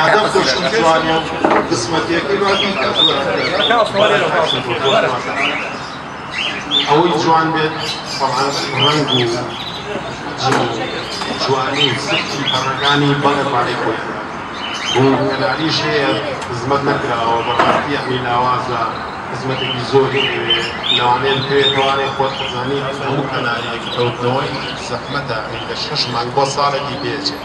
هەدەف دەشم توانێ قسمەتێکی بابی ئەوەی جوان بێت ڕەنگ و جوانی و سکی پەڕەکانی بەڵێ پارەی خۆی بۆ کەناریش هەیە خزمەت نەکراوە بەڕاستی ئەمی لاوازە خزمەتێکی زۆری ئەوێ لەوانەیە بکەوێت توانێ خۆت خزانی هەموو کەناریەک کەوتنەوەی زەحمەتە لە شەش مانگ بۆ ساڵێکی پێچێت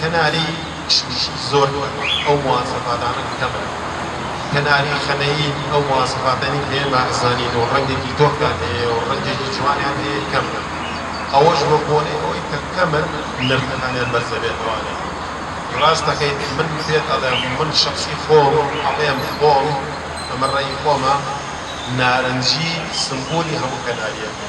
کەناری کشمیش زۆر کەمە ئەو مواسەفاتانە کەمن کەناری خەنەیی ئەو مواسەفاتەنی هەیە بائەزانین و ڕەنگێکی تۆختان هەیە و ڕەنگێکی جوانیان هەیە کەمن ئەوەش بە بۆنەی ئەوەی کە کەمن نرخەکانیان بەرزە بێت ئەوانەی ڕاست دەکەیت من پێت ئەڵێم من شەخسی خۆم ئەڵێم خۆم ئەمە ڕەئی خۆمە نارنجی سمبولی هەموو کەناریەکە.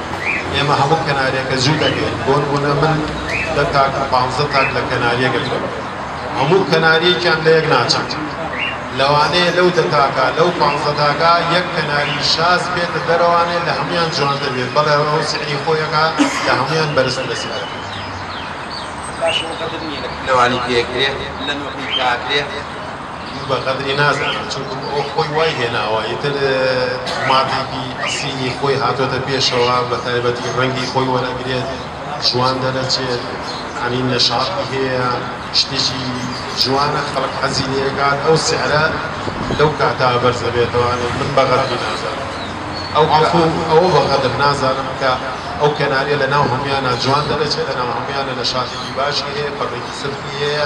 ئێمە هەموو کەناریەکە جوو دەکەین بۆ نمونە من دە تاک و پانزە تاک لە کەناریەک ئەکەم هەموو کەناریەکیان لە یەک ناچن لەوانەیە لەو دە تاکە لەو پانزە تاکە یەک کەناری شاز بێتە دەرەوانێ لە هەموان جوانتر بێت بەڵێ ئەو سعری خۆیەکە لە هەموان بەرزترە سعرەکە باشە وەقەدر نیە لە کلەوانی پێکرێ لە نۆکەی کاکرێ؟ من بە غەدری نازانم چونکم ئەو خۆی وای هێناوە ئیتر ماتێکی ئەسیلی خۆی هاتۆتە پێشەوە بە تایبەتی ڕەنگی خۆی وەرەگرێت جوان دەرەچێت یانی نەشاتی هەیە شتێکی جوانە خەڵک حەزی لێ ئەکات ئەو سعرە لەو کاتە بەرز ئەبێتەوە ئەڵێن من بە غەدری نازانم ئەو عەفو ئەوە بە غەدر نازانم کە ئەو کەناریە لە ناو هەمویانا جوان دەرەچێت لە ناو هەمویانا نەشاتێکی باشی هەیە پەڕێکی سفری هەیە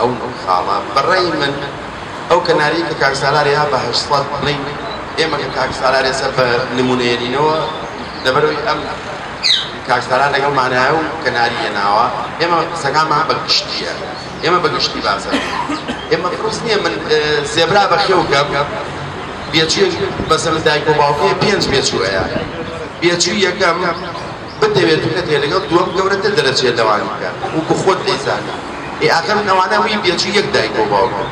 ئەو خاڵە بە ڕای من ئەو کەناریەی کە کاک سالار یا بە هەشت سەد بڵێین ئێمە کە کاک سالارێ سەر بە نمونەیەرینەوە لەبەرەوەی ئەم کاک سالار لەگەڵ مانایە و کەناریە ناوە ئێمە قسەکانمان بە گشتیە ئێمە بە گشتی باسە ئێمە پرۆس نییە من زێبرا بە خێو کەم بێچوی بەسەر دایک و باوکێ پێنج بێچوەیە بێچوی یەکەم بتەوێت بکەت هەیە لەگەڵ دووەم گەورەتر دەرەچێت لەوانی کە وەکو خۆت دەیزانی ئێ ئاخر من ئەوانە وی بێچوو یەک دایکو باوکن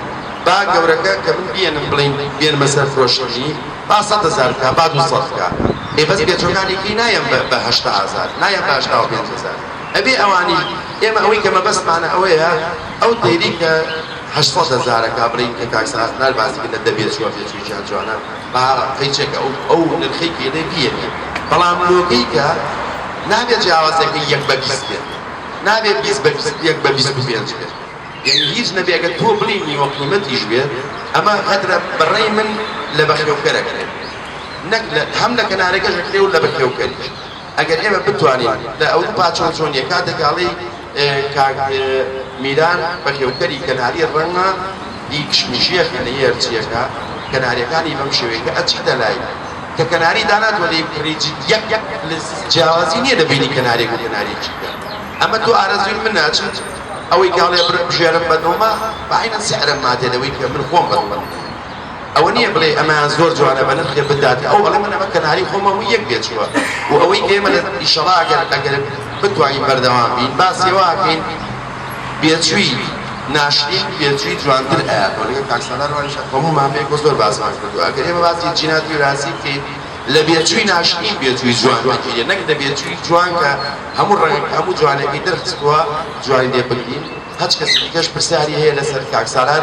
با گەورەکە کە من بیێنم بڵیم بێنمە سەر فرۆشتنی با سەد هەزار بکا با دوو سەد بکا ئێ بەس بێچوەکانی کەی نایەن بە بە هەشتا هەزار نایەن بە هەشتا و پێنج هەزار ئەبێ ئەوانیش ئێمە ئەوەی کە مەبەستمانە ئەوەیە ئەو تەیری کە هەشت سەد هەزارەکە بڵێین کە کاک سەرهەست نال باسی کرد لە دە بێچوە بێچویەکیان جوانە. با قەیچەکە ئەو ئەو نرخەی گێنێ بیەنێ بەڵام لۆکەی کە نابێ جیاوازەکەی یەک بە بیست بێت نابێ بیست بە بیست یەک بە بیست و پێنج بێت یەنی هیچ نەبێ گەر تۆ بڵی نیوە قیمەتیش بێت ئەمە غەدرە بەڕەی من لە بەخێوکەر ئەکرێ نەک لە هەم لە کەنارەکەش ئەکرێ و لە بەخێوکەریش. ئەگەر ئێمە بتوانین لە ئەوروپا چۆن چۆنیە کاتێک ئەڵێی کاک میران بەخێوکەری کەناری ڕەنگە ئی کشمشیە خەنەیی هەرچیەکە کەناریەکانی بەم شێوەیە کە ئەچیتە لای کە کەناری دانات وەلی پڕی جد یەک یەک لز جیاوازی نییە لە بینی کەناریەک و کەناریەکی تر ئەمە دوو ئارەزووی من ناچێت ئەوەی کاڵێ بژێرم بە دڵمە بە عەینەن سعرم ماتێ لەوەی کە من خۆم بە دڵم نییە. ئەوە نیە بڵێی ئەمەیان زۆر جوانە بە نرخێ بدات ئەو ئەڵێ من ئەمە کەناری خۆمە هەمووی یەک بێ چووە و ئەوەی ئێمە لە ئیشەڵا ئەگەر ئەگەر بتوانین بەردەوام بین باسی ئەوە ئەکەین بێچووی ناشرین بێچووی جوانتر ئەیات و لەگەر کاک سالار وایش هەموو مامەیەک بۆ زۆر باسمان کردووە ئەگەر ئێمە باسی جینات وراسی بکەین لە بێچووی ناشرین بێچووی جوان دەگیرێ نەک لە بێچووی جوان کە هەموو ڕەنگ هەموو جوانێکی دەرخستووە جوانی لێ بگرین هەچ کەسی دیکەش پرسیاری هەیە لەسەر کاک سالار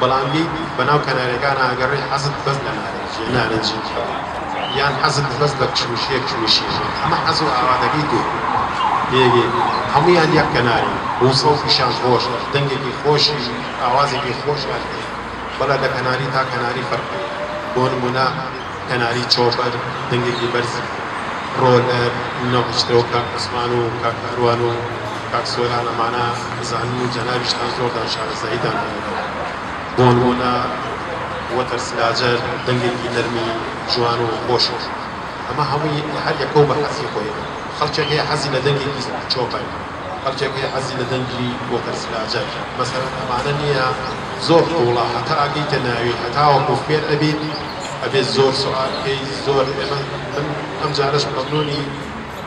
بەڵام ی بەناو کەنارەکانا ئەگەڕێی حەزت بەس لە نارنجیە نارنجی کێیە یان حەزت بەس بە کشمیشیە کشمیشی کێیە ئەمە حەز و ئاواتەکەی تۆیە تێگەی هەموویان یەک کەنارن و سەوتیشان خۆشە دەنگێکی خۆشی ئاوازێکی خۆشیان هەیە بەڵا لە کەناری تا کەناری فەرق هەیە بۆ نموونە کەناری چۆپەر دەنگێکی بەرزە. ڕۆلەر نەهۆشترە و کاک عوسمان و کاک کاروان و کاک سۆران ئەمانە ئەزانن و جەنابیشتان زۆردان شارەزاییتان هەیەتەوە. بۆنموونە وەتەر سلاجەر دەنگێکی نەرمی جوان و خۆشە. ئەمە هەمووی هەر یەکە و بە حەزی خۆی. خەڵکێک هەیە حەزی لە دەنگێکی چۆپەر. خەڵکێک هەیە حەزی لە دەنگی وەتەر سلاجەر. مەسەلەن ئەمانە نییە زۆر قووڵە هەتا ئەگەیتە ناوی هەتاوەکوو فێر ئەبیت. ئەبێ زۆر سوعا بکەی زۆر ئێمە من ئەم جارەش مەمنونی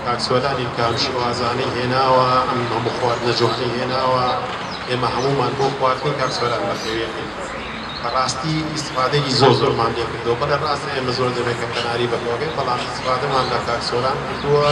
کاک سۆرانیم کە ئەم شێوازانەی هێناوە ئەم هەموو خواردنە جوانەی هێناوە ئێمە هەموومان بۆ خواردنی کاک سۆران بەخێوێتین بەڕاستی ئیستفادەیەکی زۆر زۆرمان لێ کردوە بەڵێ ڕاستە ئێمە زۆر دەمێکە قەناری بەخێوەکەین بەڵام ئیستفادەمان لە کاک سۆران کردوە.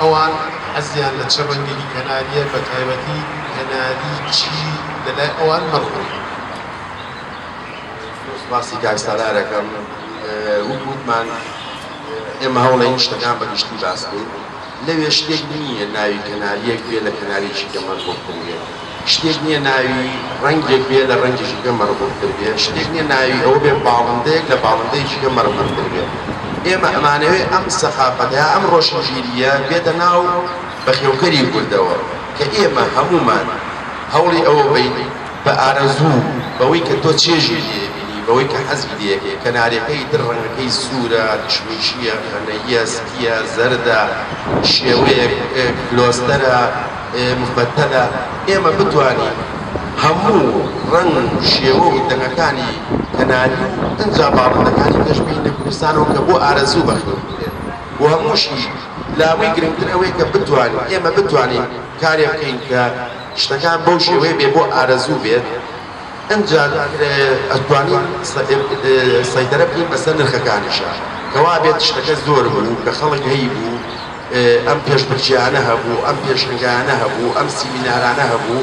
ئەوان حەزیان لە چ ڕەنگێکی کەنارییە، بەتایبەتی کەناری چی لەلای ئەوان مەخۆن. زۆر سوپاسی کاک سالار ئەکەم. وەک وتمان ئێمە هەوڵەین شتەکان بە گشتی باس کەین. لەوێ شتێک نییە ناوی کەنارییەک بێ لە کەنارییەکی کە مەرغوب تر بێ. شتێک نییە ناوی ڕەنگێک بێ لە ڕەنگی ژینگە مەرغوبتر بێ، شتێک نییە ناوی ئەوە بێ باڵندەیەک لە باڵندەی ژینگە مەرغوبتر بێ. ئێمە ئەمانەوێ ئەم سەخافەتە یا ئەم ڕۆشنبیرییە بێتە ناو بەخێوکەری کوردەوە کە ئێمە هەموومان هەوڵی ئەوە بەین بە ئارەزوو بەوەی کە تۆ چێژی لێ بینی، بەوەی کە حەزی لێ ئەکەی، کەنارەکەی تر ڕەنگەکەی سوورە، کشمیشییە، غەنەییە، سپییە، زەردە، شێوەیەک کلۆستەرە، مفەتەلە، ئێمە بتوانین هەموو ڕەنگ و شێوە و دەنگەکانی کەناری و ئنجا باڵندەکانی پێش بهینە کوردستانەوە کە بۆ ئارەزوو بەخێو بکرێن و هەمووشی لاوەی گرنگتر ئەوەیە کە بتوانین ئێمە بتوانین کارێ بکەین کە شتەکان بەو شێوەیە بێ بۆ ئارەزوو بێت ئنجا ئەتوانین سەیتەرە بکەین بەسەر نرخەکانیشا کە وابێت شتەکە زۆر بوو کە خەڵک هەیبوو ئەم پێشبرکێیانە هەبوو، ئەم پێشەنگایانە هەبوو، ئەم سیمینارانە هەبوو،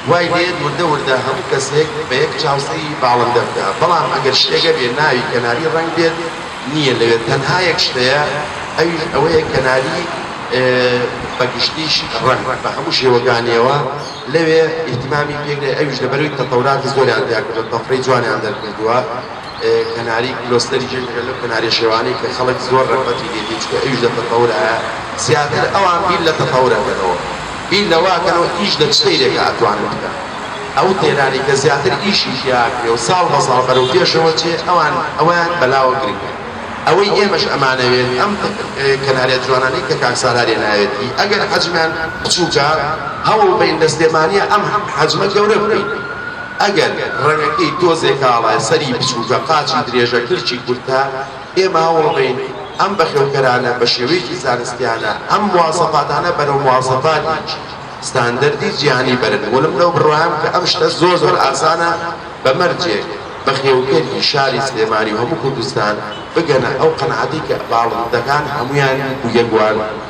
وای دەیەت وردە وردە هەموو کەسێک بە یەک چاو سەیری باڵندە بکا، بەڵام ئەگەر شتێک هەبێ ناوی کەناری ڕەنگ بێت نییە لەوێ، تەنها یەک شت هەیە ئەویش ئەوەیە کەناری بە گشتیش ڕەنگ بە هەموو شێوەکانییەوە لەوێ ئیهتیمامی پێ کرێ، ئەویش لەبەروی تەتەوراتی زۆریان تیا کردووە، تەفرەی جوانیان دەرکردووە. کەناری کلۆستەری جەنگە لەو کەناریە شێوانەی کە خەڵک زۆر رەغبەتی لێ دێ چونکە ئەویش لە تەتەورایە زیاتر ئەوان بیر لە تەتەور ئەکەنەوە بیر لەوە ئەکەنەوە ئیش لە چ سەیرێکا ئەتوانن بکەن ئەو تێرانەی کە زیاتر ئیشی تیا ئەکرێ و ساڵ بە ساڵ بەرەو پێشەوە چێ ئەوان ئەوەیان بەلاوە گرنگە ئەوەی ئێمەش ئەمانەوێت ئەم کەناریە جوانانەی کە کاک سالار هێناوێتی ئەگەر حەجمیان بچوکە هەوڵ بەین لە سلێمانیە ئەم حەجمە گەورە بکەین. ئەگەر ڕەگەکەی تۆزێ کاڵە، سەری بچووکە، قاچی درێژە، کلکی کورتە، ئێمە هەوڵەدەین ئەم بەخێوکەرانە بە شێوەیەکی زانستیانە ئەم مواسەفاتانە بەرەو مواسەفاتێکی ستاندەردی جیهانی بەرن ولم لەو بڕوایەم کە ئەم شتە زۆر زۆر ئاسانە بە مەرجێک بەخێوکەری شاری سلێمانی و هەموو کوردستان بگەنە ئەو قەناعەتەی کە باڵندەکان هەموویان یەک و یەک وان.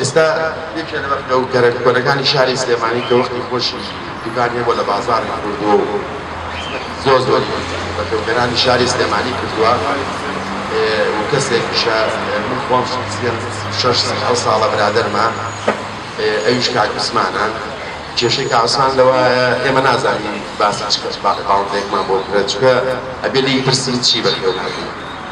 ئێستا یەکێ لە بەخت و گەرەک کۆنەکانی شاری سلێمانی کە وەختی خۆشی دوکان هەیە بۆ لە بازاڕی کردووە و خزمەتی زۆر زۆری بەخێوکەرانی شاری سلێمانی کردووە و کەسێکیشە من خۆم سی و شەش سی و حەوت ساڵە برادەرمە ئەویش کاک عوسمانە کێشەی کاک عوسمان لەوایە ئێمە نازانین باسی چ کەس باڵندەیەکمان بۆ بکرێت چونکە ئەبێ لێی پرسین چی بەخێو ناکەی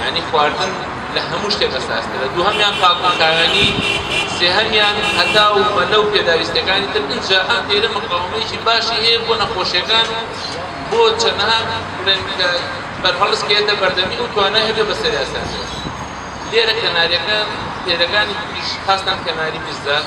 یانی خواردن لە هەموو شتێک ئەساسترە دووهەمیان پاک و خاوێنی سێهەمیان هەتا و مەلە و پێداویستەکانی تر ئینجا ئەم دێرە مقاومەیەکی باشی هەیە بۆ نەخۆشیەکان و بۆ چەنەها بڵێن کە بەرهەڵستکێتە بەردەمی ئەو توانای هەبێ بەسەریا سەربێت لێرە کەناریەکە پێرەکانی تریش خاستەن کەناری میزداد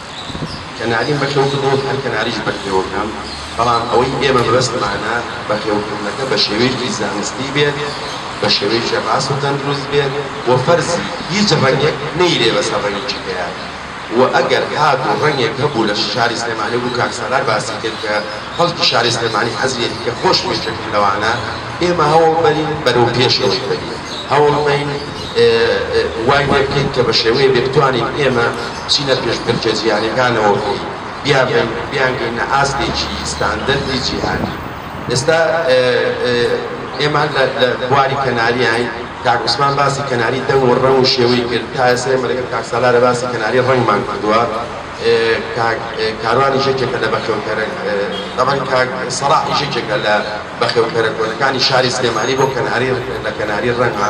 کەناریم بەخێو کردووە هەر کەناریش بەخێوەکەم، بەڵام ئەوەی ئێمە مەبەستمانە بەخێوکردنەکە بە شێوەیەکی زانستی بێت، بە شێوەیەکی ڕاست و تەندروست بێت و فەرزی هیچ ڕەنگێک نەیرێ بەسەر ڕەنگی جگەیان و ئەگەر هاتوو ڕەنگێک هەبوو لە شاری سلێمانی وەکو کاک سالار باسی کرد کە خەڵکی شاری سلێمانی حەزیەتی کە خۆشمێشێکم لەوانە ئێمە هەوڵ بەرین بەرەو پێشەوەی بەرین هەوڵ بەین وای لێ بکەین کە بە شێوەیەبێ بتوانین ئێمە بچینە پێشبڕکێ جیهانیەکانەوە و بیانبەین و بیانگەینە ئاستێکی ستاندەردی جیهانی. ئێستا ئێمە لە بواری کەناریاین، کاک عوسمان باسی کەناری دەنگ و ڕەنگ و شێوەی کرد، تا ئێستا ئێمە لەگەڵ کاک سالارە باسی کەناری ڕەنگمان کردووە، کاک کاروانیش یەکێکە لە بەخێوکەرە، تەبعەن کاک سەڵاحیش یەکێکە لە بەخێوکەرە کۆنەکانی شاری سلێمانی بۆ کەناری، لە کەناری ڕەنگە.